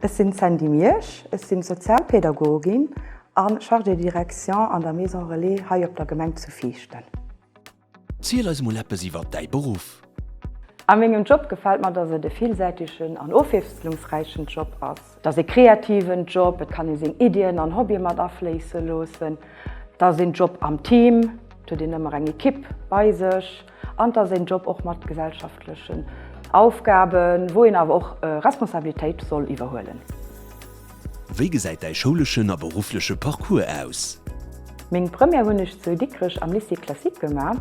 Ech sinn d'Sandy Miersch, ech sinn Sozialpädagogin a Chargée de direction an der Maison Relais hei op der Gemeng zu Viichten. Ziel eis mol eppes iwwert däi Beruff! A mengem Job gefält mer, dass et e villsäitegen an ofwiesslungsräichen Job ass. Et ass e kreativen Job, et kann ee seng Iddien an Hobbye mat afléisse loossen. Et ass een Job am Team, et huet een ëmmer eng Ekipp bei sech. an dass een Job och mat gesellschaftlechen Aufgaben, wou een awer och Responsabilitéit soll iwwerhuelen. Wéi gesäit däi schouleschen a beruffleche Parcours aus? Meng Première hunn ech zu Dikrech am Lycée classique gemaach.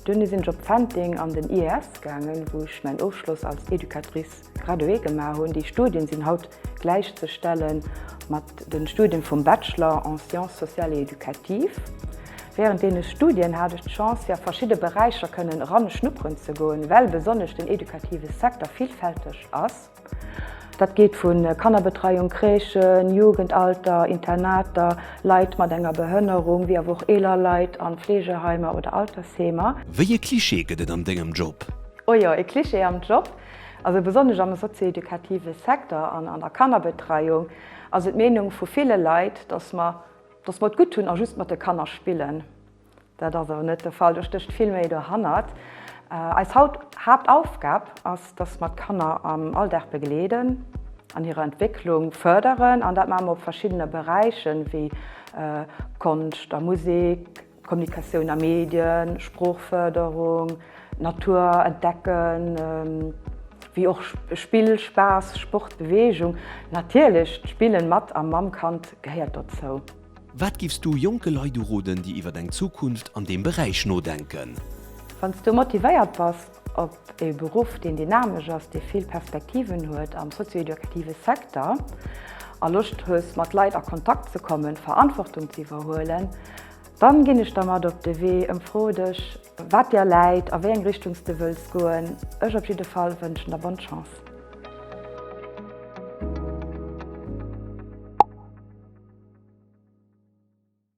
Duerno sinn ech op Fenteng an den IES gaangen, wou ech mäin Ofschloss als Educatrice Gradué gemaach hunn. Déi Studien sinn haut gläichzestellen mat den Studien vum Bachelor en sciences sociales et éducatives. Während deene Studien hat ech d'Chance fir a verschidde Beräicher kënnen eran schnupperen ze goen, well besonnesch den éducative Secteur villfälteg ass. Dat geet vu Kannerbetreiung, Crèchen, Jugendalter, Internater, Leit mat enger Behënnerung, wéi awer och eeler Leit an Fleegeheimer oder Altersheemer. Wéi e Cliché gëtt et an dengem Job? Oh jo, e Cliché am Job? Also besonnesch am sozio-educative Secteur an an der Kannerbetreiung ass et d'Meenung vu ville Leit, datt mer datt mer et gutt hunn a just mat de Kanner spillen. Dat ass awer net de Fall, do stécht vill méi dohannert. Eis Hauptaufgab ass, datt mer d'Kanner am Alldag begleeden, an hirer Entwécklung fërderen an dat maache mer op verschiddene Beräichen, wéi Konscht a Musek. Kommunikatioun a Medien, Sproochfërderung, Natur entdecken, wéi och Spill, Spaass, Sport, Beweegung. Natierlech d'Spillen mat a mam Kand gehéiert dozou. Wat giffs du jonke Leit uroden, déi iwwer eng Zukunft an deem Beräich nodenken? Wann s du motivéiert bass, op e Beruff, deen dynamesch ass, dee vill Perspektiven huet am sozio-educative Secteur a Loscht hues mat Leit a Kontakt ze kommen, Verantwortung ze iwwerhuelen, dann ginn ech der mat op de Wee an froe dech wat dir läit a wéi eng Richtung s de wëlls goen. Ech op jidde Fall wënschen der bonne chance.